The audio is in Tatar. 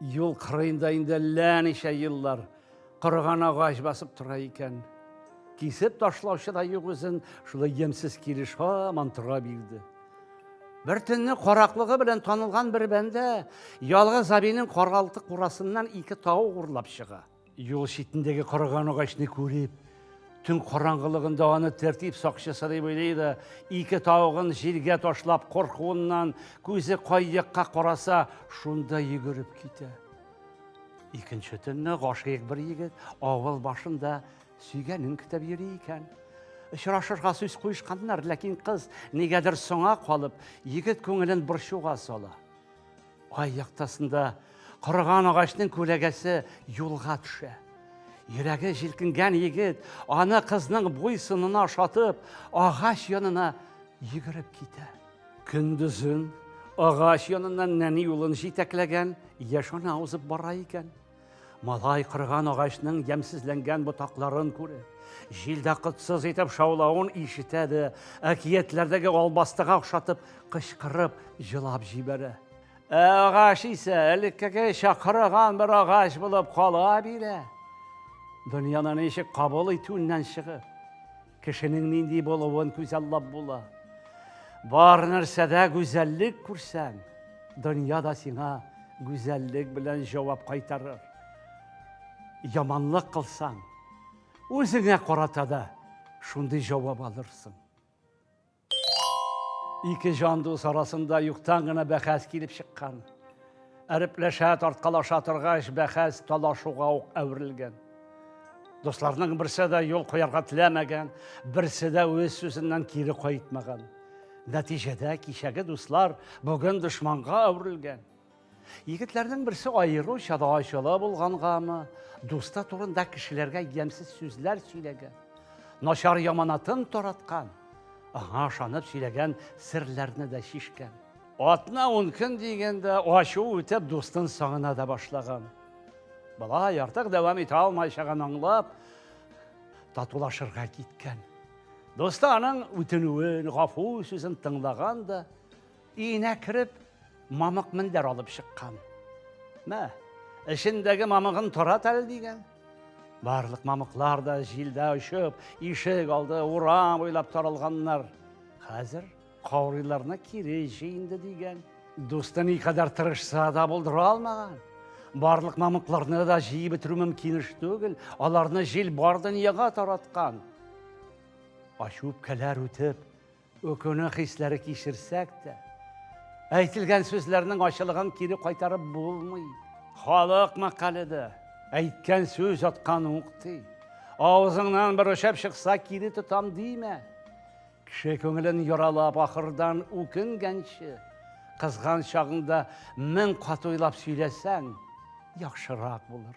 Юл кырыенда инде әллә ничә еллар корыган агач басып тора икән. Кисеп ташлаучы да юк үзен, шулай ямьсез килеш һаман тора бирде. Бер төнне караклыгы белән танылган бер бәндә ялгыз абинең каралты курасыннан ике тау урлап чыга. Юл читендәге корыган агачны күреп, төн караңгылыгында аны тәртип сакчысы дип уйлый да, ике тавыгын җиргә ташлап коркуыннан күзе кай якка караса, шунда йөгереп китә. Икенче төнне гашыйк бер егет авыл башында сөйгәнен көтеп йөри икән. Очрашырга сүз куешканнар, ләкин кыз нигәдер соңа калып, егет күңелен борчуга сала. Ай яктасында корыган агачның күләгәсе юлга төшә. Йөрәге җилкенгән егет, аны кызның буй сынына ошатып, агач янына йөгереп китә. Көндезен агач яныннан нәни улын җитәкләгән яшь ана узып бара икән. Малай кырган агачның ямсезләнгән ботакларын күреп, җилдә кытсыз итеп шаулавын ишетә дә, әкиятләрдәге албастыга охшатып кычкырып җылап җибәрә. Ә агач исә элеккеге чакырыган бер агач булып кала бирә. Дөньяны ничек кабул итүеннән чыгып, Кешенең нинди булуын күзаллап була. Бар нәрсәдә гүзәллек күрсәң, дөнья да сиңа гүзәллек белән җавап кайтарыр. Яманлык кылсаң, үзеңә карата да шундый җавап алырсың. Ике җан дус арасында юктан гына бәхәс килеп чыккан. Әрепләшә, тарткалаша торгач, бәхәс талашуга ук әверелгән. Дусларның берсе дә юл куярга теләмәгән, берсе дә үз сүзеннән кире кайтмаган. Нәтиҗәдә кичәге дуслар бүген дошманга әверелгән. Егетләрнең берсе аеруча да ачулы булгангамы, дусты турында кешеләргә ямьсез сүзләр сөйләгән, начар яманатын тараткан, аңа ышанып сөйләгән серләрне дә чишкән. Атна ун көн дигәндә ачу үтеп дустын сагына да башлаган. Болай артык дәвам итә алмаячагын аңлап, татулашырга киткән. Дусты аның үтенүен, гафу сүзен тыңлаган да, Өенә кереп, мамык мендәр алып чыккан. Мә, эчендәге мамыгын тарат әле дигән. Барлык мамыклар да җилдә очып, ишек алды, урам буйлап таралганнар. Хәзер каурыйларны кире җый инде дигән. Дусты никадәр тырышса да булдыра алмаган. Барлык мамыкларны да җыеп бетерү мөмкин эш түгел. Аларны җил бар дөньяга тараткан. Ачу үпкәләр үтеп, Үкенү хисләре кичерсәк тә, әйтелгән сүзләрнең ачылыгын кире кайтарып булмый. Халык мәкале дә, әйткән сүз аткан ук ди. Авызыңнан бер очып чыкса, кире тотам димә. Кеше күңелен яралап, ахырдан үкенгәнче, кызган чагыңда мең кат уйлап сөйләсәң, яхшырак булыр.